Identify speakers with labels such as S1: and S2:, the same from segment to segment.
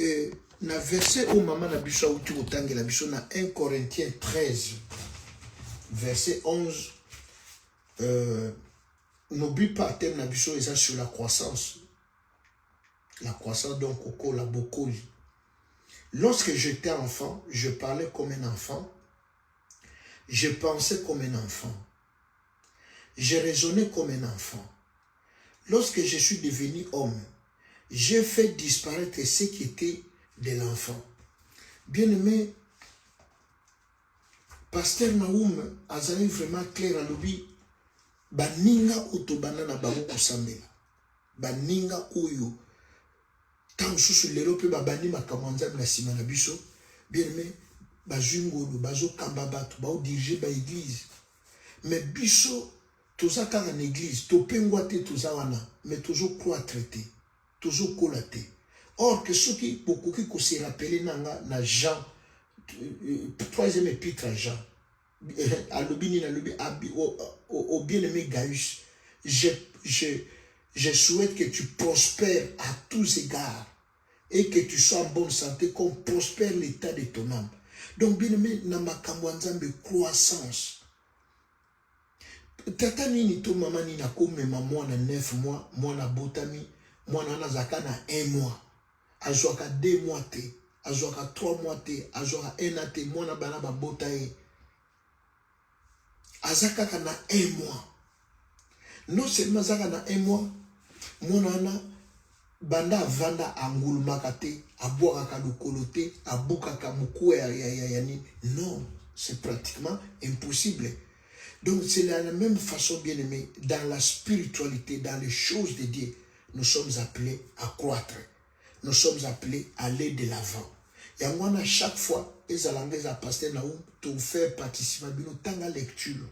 S1: Euh, na verset oyo mama na biso auti kotangela biso na 1 corinthiens 13 verset 11 euh, n'oublie pas thème na biso eza sur la croissance la croissance donc okola bokoli lorsque j'étais enfant je parlais comme un enfant je pensais comme un enfant Je raisonnais comme un enfant. Lorsque je suis devenu homme, j'ai fait disparaître ce qui était de l'enfant. Bien aimé, Pasteur Naoum azali vraiment clair alobi baninga oyo tobanda na bango kosambela baninga oyo ntango mosusu lelo mpe babandi makambo ya nzambe na nsima na biso bienme bazwi ngolu bazokamba bato baodirige baeglize me biso toza kaka na eglize topengwa te toza wana me tozocroitre te tozokola te or ke soki bokoki koserapele na nga na jean euh, euh, troisième epitre ya jean alobi nini alobi au bien aimé Gaius je, je, je souhaite que tu prospères à tous égards et que tu sois en bonne santé qu'on prospère l'état de ton âme donc bien aimé na makambo ya nzambe croissance tata nini to mama nini akomema mwana 9 mois mwana abotami mwana wana azalaka na 1 mois azwaka deux mois te azwaka trois mois te azwaka un an te mwana bana babota ye aza kaka na un mois non seulement azaka na un mois mwana wana banda avanda angulumaka te abwakaka lokolo te abukaka mokuwa ya, ya, ya, ya nini non c'est pratiquement impossible donc c'est la, la même façon bien aimé dans la spiritualité dans les choses de dieu nous sommes appelés à croître nous sommes appelés à aller de l'avant yango wana chaque fois ezala nga eza pasteur na tofaire participa bino tanga lecture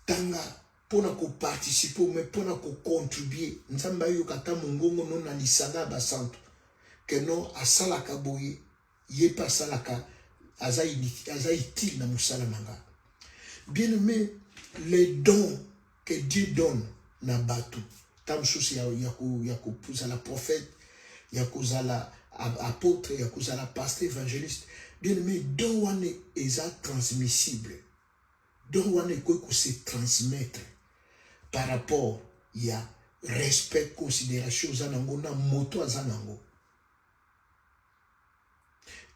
S1: tanga mpo na koparticipe me mpo na kocontribue nzambe ayoka ata mongongo no na lisanga ya basantu keno asalaka boye Ye pe asalaka aza aza utile na musala na nga. Bien aimé, les dons que Dieu donne na batu, ta mosusu ya ya ko ya ko kozala prophète, ya kozala apôtre, ya kozala pasteur évangéliste. Bien aimé, don wana eza transmissible. Don wana ekoki ko se transmettre par rapport ya respect considération oza nango na moto aza nango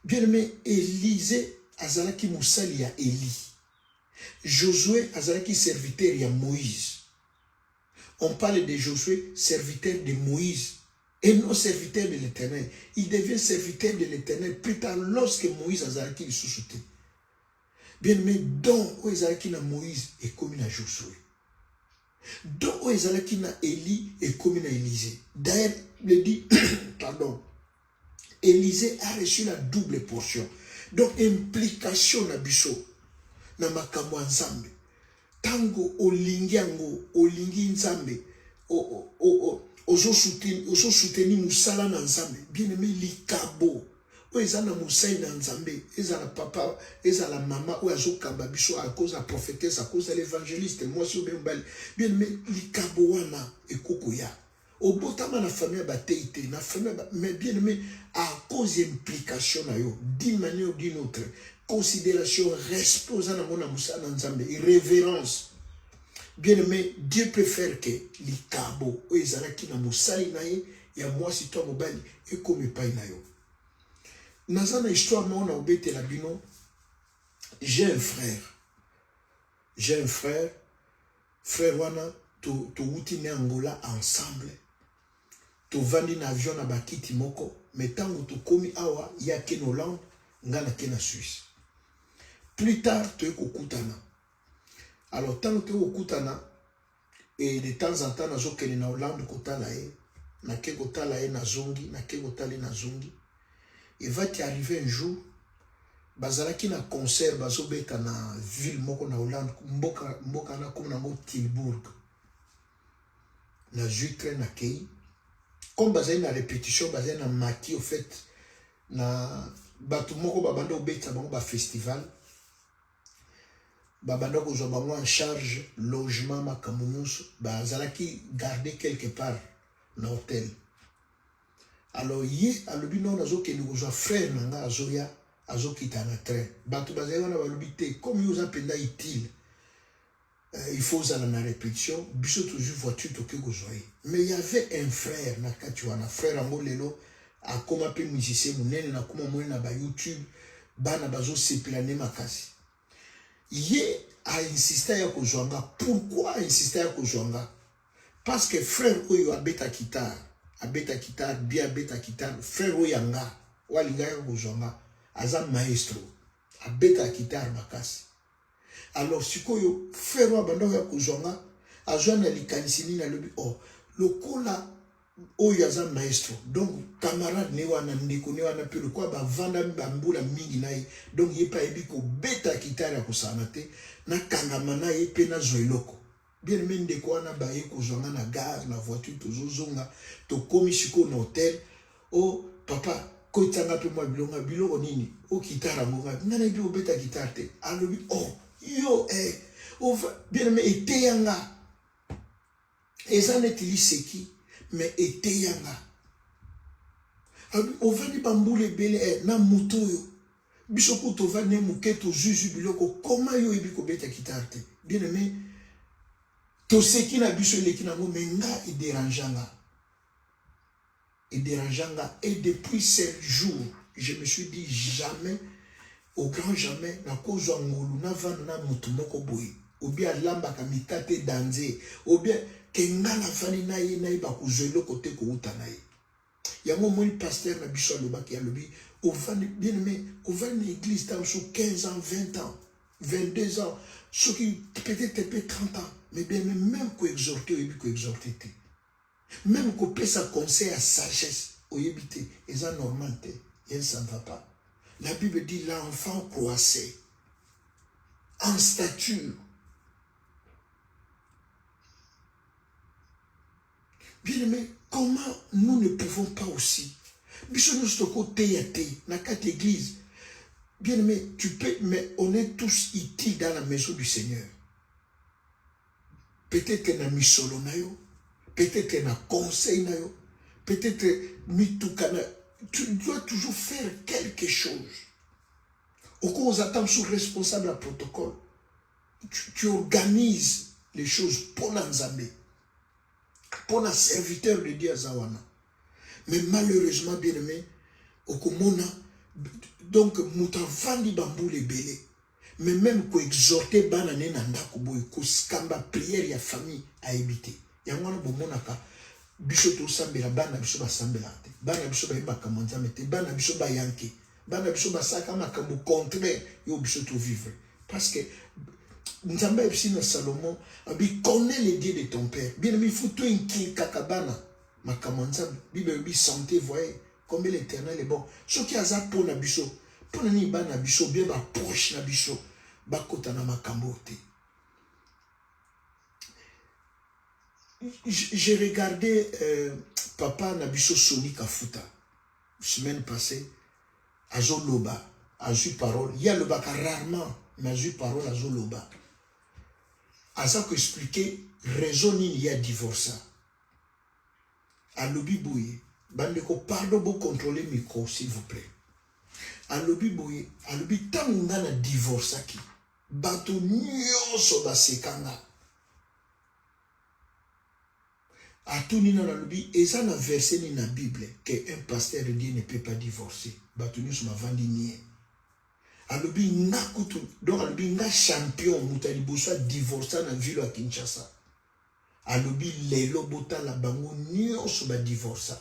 S1: Bien aimé, Elise azalaki mosali ya Eli. Josue azalaki serviteur ya Moïse. On parle de Josue, serviteur de Moïse, et non serviteur de l'Éternel. Il devient serviteur de l'Éternel plus tard lorsque Moïse azalaki lisusu te. Bien aimé, don oyo ezalaki na Moïse ekomi na Josue. Don oyo ezalaki na Eli ekomi na Elise. D'ailleurs, le dit, pardon, Elysee a reçu la double portion. Donc implication na biso na makambo ya Nzambe. Tango olingi yango, olingi Nzambe, o, o, o, o, ozo soutenir, ozo soutenir musala na Nzambe. Bien aimé likabo oyo eza na mosali na Nzambe, ezala papa, ezala mama oyo azokamba biso à cause ya prophétesse, à cause ya l'évangéliste, mwasi oyo mobali. Bien aimé likabo wana ekokoya. obotama na famille ya bateyi te na famille ba... mais bien aimé à cause ya implication na yo d'une manière d'une autre considération respect oza nango na mosala na nzambe révérence bien aimé dieu peut faire que likabo oyo ezalaki na mosali na ye ya mwasi to ya mobali ekoma epai na yo naza na histoire moko na kobetela bino j'ai un frère j'ai un frère Frère wana towuti na Angola ensemble, tovandi na avion na bakiti moko, mais ntango tokomi awa ye ake na Hollande, nga nake na Suisse. Plus tard toye kokutana, alors ntango toye kokutana et de temps en temps nazokende na Hollande kotala ye, nake kotala ye nazongi, nake kotala ye nazongi il va te arriver un jour bazalaki na concert bazobeta na ville moko na hollande mboka, mboka na komi nango tilbourg nazwi train nakei comme bazali na répétition bazali na mati au fait na bato moko babanda kobetisa bango bafestival babanda kozwa bango en charge logement makambo nyonso bazalaki garde quelque part na hotel alors ye alobi nao nazokende kozwa frère na ngai azoya azokita na train bato bazali wana balobi te comme yo oza mpenza utile euh, il faut ozala na répétition biso tozwi voiture toke kozwa ye mais y avait un frère na kati wana frère yango lelo akoma mpe musicien monene nakoma monene na bayoutube bana bazosepela nde makasi ye ainsista ya kozwa nga pourkui ainsista ya kozwa nga Parce que frère oyo abeta guitare, abeta guitare, bien abeta guitare, frère oyo yanga, oyo alingaka kozwa nga, aza maestro, abeta guitare makasi. Alors sikoyo frère oyo abanda oya kozwa nga, azwa na likanisi nini alobi oh lokola oyo aza maestro donc camarade ne wana ndeko ne wana mpe lokola bavandami bambula mingi na ye donc ye mpe ayebi kobeta kitare ya kosana te nakangama na ye mpe nazwa eloko Bien aimé ndeko wana baye kozwa nga na gare na voiture tozozonga tokomi sikoyo na hotel o oh, papa kotisa nga mpe mwa bilonga biloko nini o oh, kitare yango nga nga nayebi obeta kitare te alobi o oh, yo eh, ova bien aimé eteya nga eza neti liseki me eteya nga ovandi bambula ebele eh, na moto oyo biso ku tova ne moke tozwi zwi biloko koma yo oyebi kobeta kitare te bien aime toseki na biso eleki nango me nga ederange nga ederange nga et depuis ce jour je me suis dit jamais au grand jamais nakozwa ngolu navanda na motu moko boye obi alambaka mikate danze obi ke nga nafandi na ye nayeba kozwa eloko te kouta na ye yango omoni pasteur na biso alobaki alobi ovandi bien aimé ovandi na église ntango so 15 ans 20 ans 22 ans soki peut-être mpe 30 ans mais bien aimé même koexhorte oyebi koexhorte te même kopesa conseil ya sagesse oyebi te eza normal te yen ça ne va pas la bible dit l'enfant croissait en stature Bien aimé, comment nous ne pouvons pas aussi biso nyonso tokoteya te na kati église bien aimé tu peux mais on est tous utiles dans la maison du seigneur peut-être na misolo na yo peut-être na conseil na yo peut-être mituka na tu dois toujours faire quelque chose okoki oza ntango sur responsable ya protocole tu, tu organise les choses mpo na nzambe Pour un serviteur de Dieu Zawana. Mais malheureusement, bien aimé, Okomona, donc, Moutavandi Bambou les Bélé. Mais même ko exhorter banane na ndako boye ko skamba prière ya famille à éviter. Yango wana bomonaka biso tosambela bana biso basambela te. Bana biso bayebaka mo Nzambe te. Bana biso bayanke. bana biso basalaka makambo contraire yo biso tovivre parce que nzambe ayebisi na salomon abi connais le dieu de ton père bien aimé il faut toinkiekaka bana makambo ya nzambe bible elobi santé voye combien l'éternel est bon soki aza mpo na biso mpo na nini bana biso bien baproche na biso bakota na makambo oyo te j'ai regardé euh, papa na biso soni kafuta semaine passée azoloba azwi parole ye alobaka rarement mais azwi parole azoloba aza koexplike raison nini ye adivorsa alobi boye bandeko pardon bocontrole micro s'il vous plaît alobi boye alobi ntango nga na divorcaki bato nyonso basekanga atuni nano alobi eza na verset nini na bible que un pasteur lieu ne peut pas divorcer bato nyonso bavandi nie alobi nga kutu donc alobi nga champion moto ya liboso adivorsa na ville ya kinshasa alobi lelo botala bango nyonso badivorsa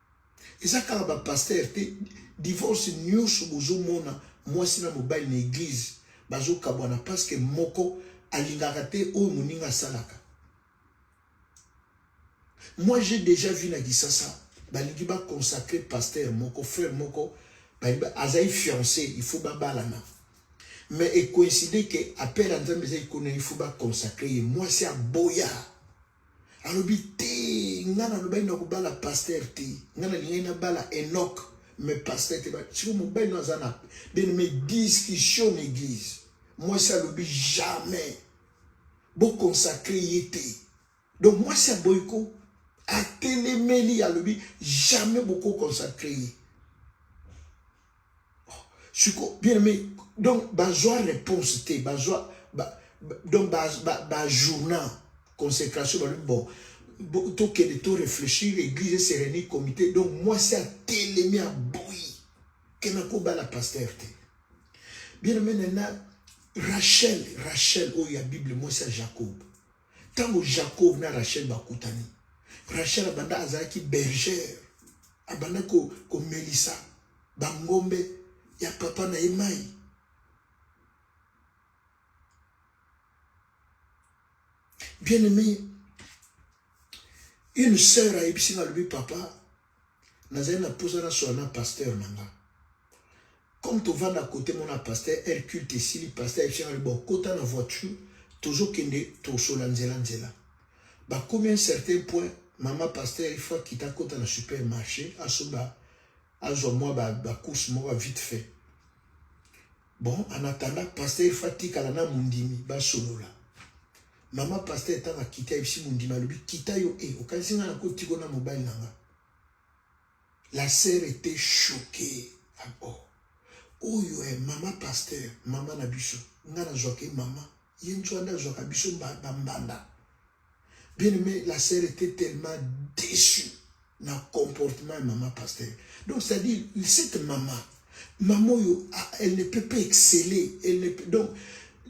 S1: Eza kaka ba pasteur te, divorce nyoso bozomona mwasi na mobali na eglise bazokabwana parce que moko alingaka te oyo moninga asalaka. Moi j'ai déjà vu na Kisasa balingi ba consacrer pasteur moko frère moko azali fiancé il faut babalana mais ecoïncide que appel ya Nzambe eza ikona il faut ba consacrer ye mwasi aboya alobi te nga nalobaki na kobala paster te nga nalingaki nabala enok me paster te siko mobali no aza na bene me discussion na église mwasi alobi jamais boconsacre ye te donc mwasi aboyi ko atelemeli alobi jamais bokoconsacre ye siko bien aimé donc bazwa réponse te bazwa ba, ba, donc bajourna ba, ba consécration balobi bon tokende to réfléchir église esereni comité donc mwasi atelemi aboyi ke nakobala paster te bien aimé nana rachel rachel oyo ya bible mwasi ya jacob Tango Jacob na Rachel bakutani, Rachel abanda azalaki bergère, abanda ko komelisa bangombe ya papa na ye mai. Bien aimé, une sœur ayebisi nga alobi papa nazali na mposa nasola na pasteur na nga comme tovanda kote mona pasteur el culte esili pasteur ayebisangani bokota na voiture tozokende tosola nzela nzela bakomi un certain point mama pasteur ifo akita akota na supermarché asoba azwa mwa bacourse ba moko vite fait bon en attendant pasteur ifo atikala na mondimi basolola Maman pasteur tanga kita ebisi mondima alobi kita yo e eh, okanisi nga nako tiko na mobali na nga la sœur était choquée ah, oh oyo eh, mama pasteur mama na biso nga nazwaka ye mama ye nzwanda azwaka biso bambanda bien aimé la sœur était tellement déçue na comportement ya mama pasteur donc c'est à dire cette mama mama oyo ah, elle ne peut pas exceller elle ne peut, donc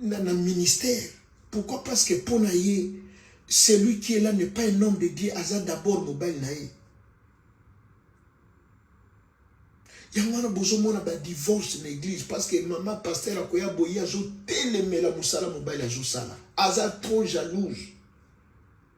S1: na, na ministère pourquoi parce que mpo na ye celui qui est là n'est pas un homme de dieu aza d'abord mobali na ye yango wana bozomona badivorce na église parce que mama pasteur akoya boye azotelemela mosala mobali azosala aza trop jalouse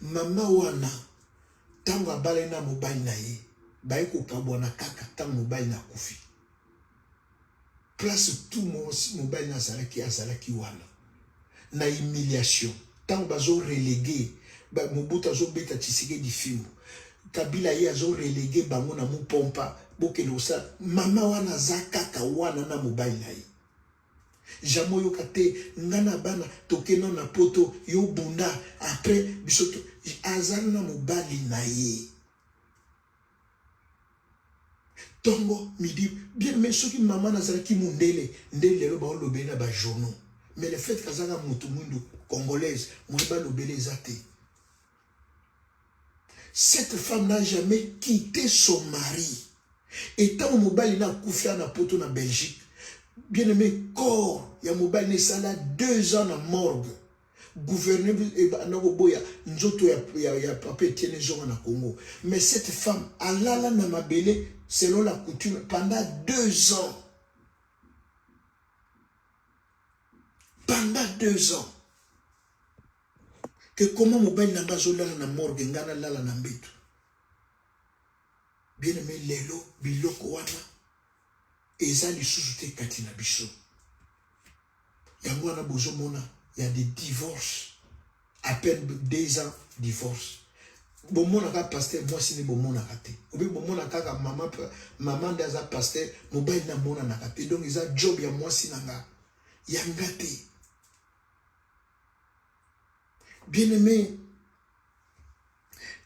S1: Mama wana ntango abalani na mobali na ye baye kokabwana kaka ntango mobali na akufi place tout mosi mobali na azalaki azalaki wana na humiliation ntango bazo relege mobutu azobeta tshisekedi fimbo kabila ye azo relege bango na mupompa bokende kosala mama wana aza kaka wana na mobali na ye Jamais oyoka te nga na bana toke nao na poto yo bunda après biso aza na mobali na ye tongo midi bien mais soki mama nazalaki mundele nde lelo baolobeli na bajournaux mais le fait kazanga mutu mwindu congolaise moye balobeli eza te Cette femme n'a jamais quitté son mari. Et tant mobali na akufi na poto na Belgique, bien aimé corps ya mobali na esala deux ans na morgue. Gouverneur ebanda koboya nzoto ya, ya, ya papa Etienne ezonga na Congo. Mais cette femme alala na mabele selon la coutume pendant deux ans. Pendant deux ans. que comment mobali na nga azolala na morgue nga nalala na mbetu bien aime lelo biloko wana eza lisusu te kati na biso yango wana bozomona ya de divorce à peine deux ans divorce bomonaka paster mwasi nde bomonaka te obi bomona kaka mama mama nde aza paster mobali namonanaka te donc eza job ya mwasi na nga ya nga te Bien aimé,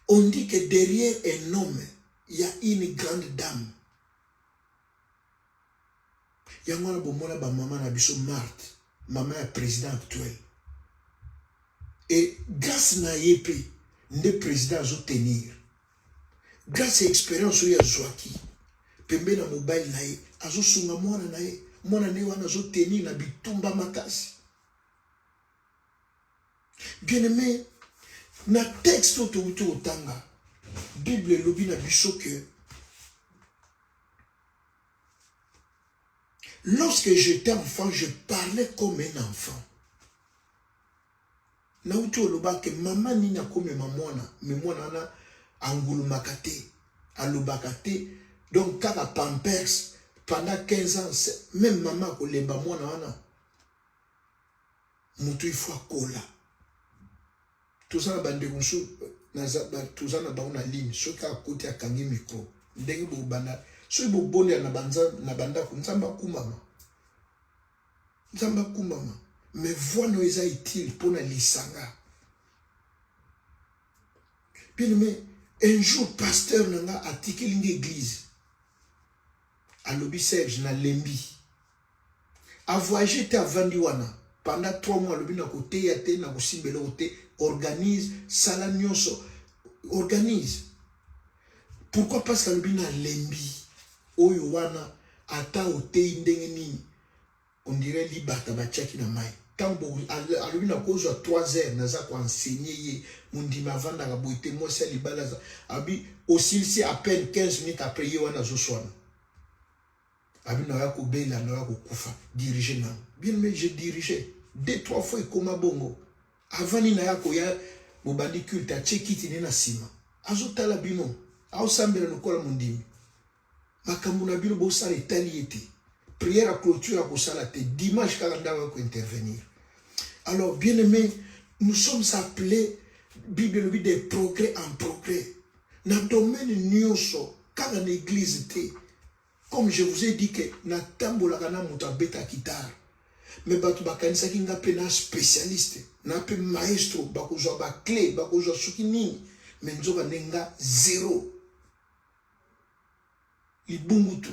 S1: on dit que derrière un homme, il y a une grande dame. yango wana bomona bamama na biso marte mama ya président actuel e grâce na ye mpe nde président azotenir grâce ya expérience oyo azwaki pembe na mobali na ye azosunga mwana na ye mwana na ye wana azotenir na bitumba makasi bien aimé na texte oyo touti kotanga bible elobi na biso ke lorsque j'étais enfant je parlais comme un enfant nauti olobaka ke mama nini akomema mwana me mwana wana angulumaka te alobaka te donc kaka pampers pendant 15 ans même mama akolemba mwana wana moto il faut akola toza na bandeko mosusu toza na bango na ligne soki akoti akangi mikro ndenge bobanda soki bobolia na bandako nzambe akumbama nzambe akumbama me voi no eza utile mpo na lisanga bien me un jour pasteur na nga atikeli nga eglise alobi serge nalembi A voyage te avandi wana pendant 3 mois alobi na koteya te na kosimba eloko te organise sala nyonso organise pourquoi parce que alobi na lembi oyo wana ata oteyi ndenge nini on dirait libata batiaki na mai ntango alobi na kozwa 3 heures naza koensegne ye mondimi avandaka boye te mwasi ya libala aza abi osilisi à peine 15 minutes après ye wana azoswana Abi na ya ko bela na ya ko kufa diriger na bien mais je diriger deux trois fois ekoma bongo avant ni na ya ko ya bobandi culte a che kiti ni na sima azo tala bino au sambela lokola mondimi makambo na bino bosala etali ye te prière ya clôture akosala te dimanche kaka ndako ya kointervenir alors bien aimé nous sommes appelés bible elobi des progrès en progrès na domaine nioso kaka na église te comme je vous ai dit que natambolaka na moto abeta guitare me bato bakanisaki nga mpe na spécialiste na mpe maestro bakozwa baclé bakozwa soki nini me nzoka nde nga zero libungutu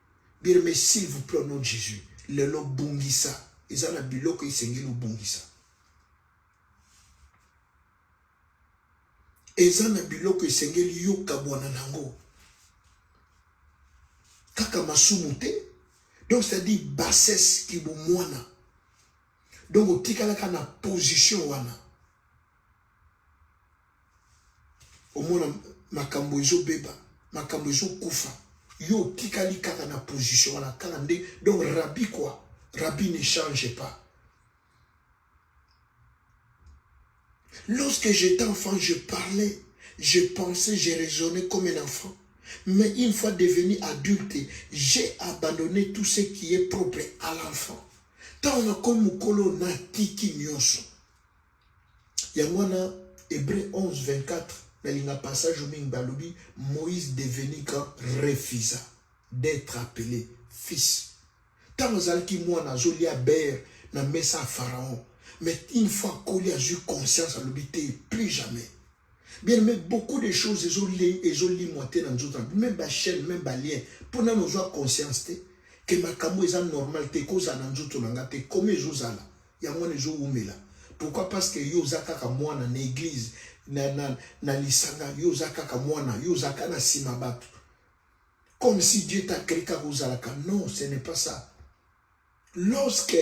S1: Bien mais s'il vous plaît au nom de Jésus, lelo bungisa eza na biloko esengeli obungisa. Eza na biloko esengeli yo kabwana nango. Kaka masumu te. Donc c'est-à-dire bassesse kibumwana. Donc otikalaka na position wana. omona makambo ezobeba makambo ezokufa yo otikali kaka na position wana kaka nde donc rabi quoi rabi ne change pas lorsque j'étais enfant je parlais je pensais je raisonnais comme un enfant mais une fois devenu adulte j'ai abandonné tout ce qui est propre à l'enfant ntango nakomi mokolo natiki nyonso yango wana Hébreu 11 24 nalinga passage oyo mingi balobi Moïse devenu grand refusa d'être appelé fils ntango azalaki mwana azolia bere na mesa ya pharaon mais une fois akoli azwi conscience alobi te plus jamais Bien mais beaucoup de choses ezo ezo limwa te na nzoto na même ba chaîne même ba lien mpo nano ozwa conscience te ke makambo eza normal te kozala na nzoto na nga te koma ezozala yango wana ezowumela pourquoi parce que yo oza kaka mwana na église na, na, na lisanga yo oza kaka mwana yo oza kaka na nsima bato comme si dieu t'a créé kaka ozalaka non ce n'est pas ça lorsque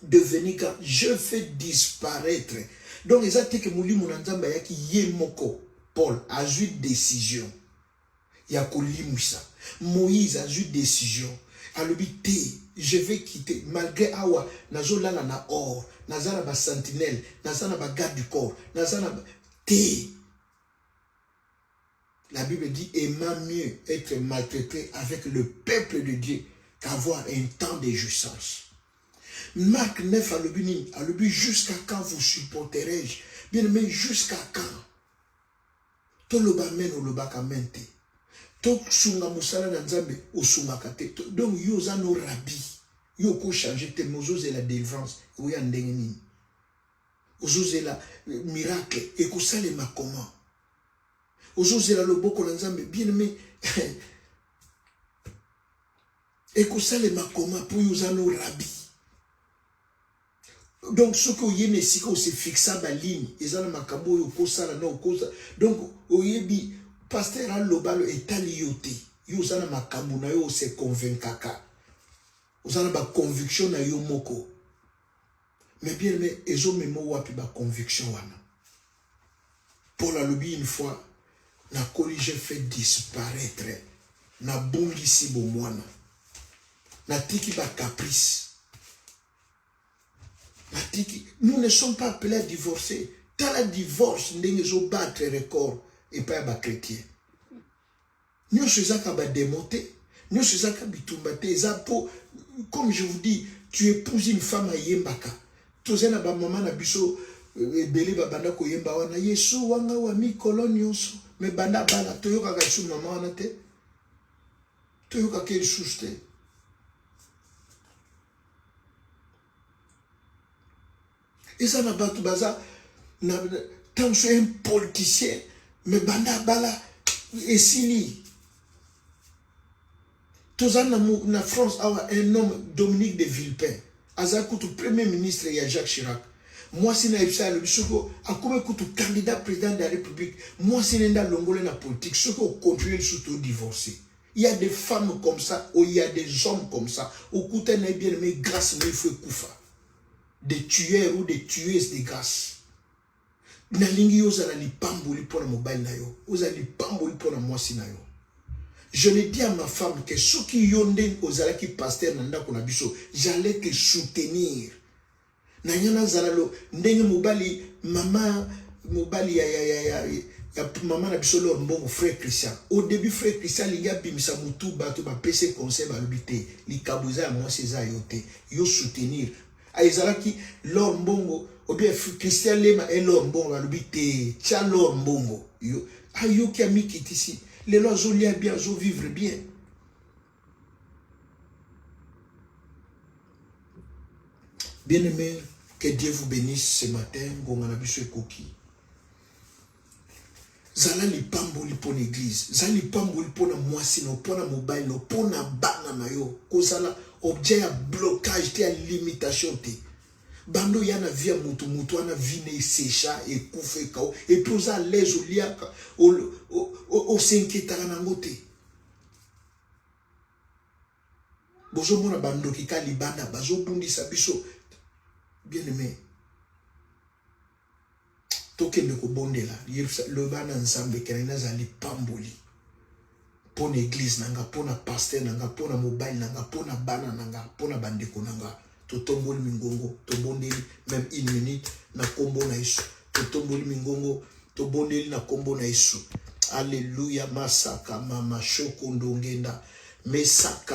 S1: devenir quand je fais disparaître donc eza te ke molimo na nzambe ayaki ye moko paul azwi décision ya kolimwisa moïse azwi décision alobi te je vais quitter malgré awa nazolala na or naza na basentinelle naza na bagarde du corps naza na te La Bible dit aimant mieux être maltraité avec le peuple de Dieu qu'avoir un temps de jouissance. Marc 9 à l'obini, à l'obini jusqu'à quand vous supporterai-je Bien aimé, jusqu'à quand Tout le bamen ou le bakamente. Tout sunga musala na nzambe ou sunga kate. Donc yo za no rabi. Yo ko changer tes mozo et la délivrance. Ou ya ndengenini. Ozo la euh, miracle. Et ko salema comment ozo zela loboko na nzambe bien aime ekosalema koma mpo yo oza no rabi donc soki oye na esika osefixa baligne eza na makambo oyo okosala na okosa donc oyebi paster alobalo etali yo te yo oza na makambo na yo ose convaincaka oza na baconviction na yo moko Mais bien aimé, ezo memo wapi ba conviction wana? Paul alobi une fois, na koli j'ai fait disparaître, na bungisi bomwana, na tiki ba caprice, na tiki. Nous ne sommes pas appelés à divorcer. Tala divorce ndenge ezo battre record epai ya ba chrétiens. Nionso eza ka ba demon te, nionso eza ka bitumba te, eza po comme je vous dis tu epouses une femme ayembaka toza na ba maman na biso euh, ebele babanda koyemba wana yesu wanga wa mikolo nyonso me banda bala toyokaka lisusu mama wana te toyokaka lisusu te eza na bato baza na ntango so un politicien me banda abala esili toza na, na france awa un homme dominique de villepin aza kutu premier ministre ya jacques chirac mwasi na ebisa alobi soki akomi kutu candidat président de la république mwasi nende alongole na politique soki ocontinue lisusu todivorce il y a des femmes comme ça ou il y a des hommes comme ça okuta na ye bien aimé grâce na ifo ekufa de tueur ou de tueuse de grâce nalingi yo ozala lipamboli mpo na mobali na yo ozala lipamboli mpo na mwasi na yo je le dis à ma femme que soki yo nde ozalaki pasteur na ndako na biso j'allais te soutenir na nga nazala lo ndenge mobali mama mobali ya, ya, ya, ya, ya mama na biso lor mbongo frère christian au début frère christian alingi abimisa motu bato bapese conseil balobi te likabo eza ya mwasi eza yo te yo soutenir ah, ezalaki lor mbongo obien christian lema e lor mbongo alobi te tya lor mbongo yo ayoki ah, amikitisi lelo azolia bien azovivre bien bien aimé que dieu vous bénisse ce matin ngonga na biso ekoki zala lipamboli mpo na eglize zala lipamboli mpo na mwasi no mpo na mobali no mpo na bana na yo kozala objet ya blocage te ya limitation te bando ya na vie ya motu motu wana vie na esecha ekufa ekao epuis oza alaise oliaka osenketaka nango te bozomona bandoki ka libanda bazobundisa biso bien aime tokende kobondela loba na nzambe ke ngai nazala lipamboli mpo na eglize na nga mpo na paster na nga mpo na mobali na nga mpo na bana na nga mpo na bandeko na nga totomboli mingongo tobondeli meme une minute na nkombo na yesu totomboli mingongo tobondeli na nkombo na yesu alleluya masaka mama shoko ndongenda mesaka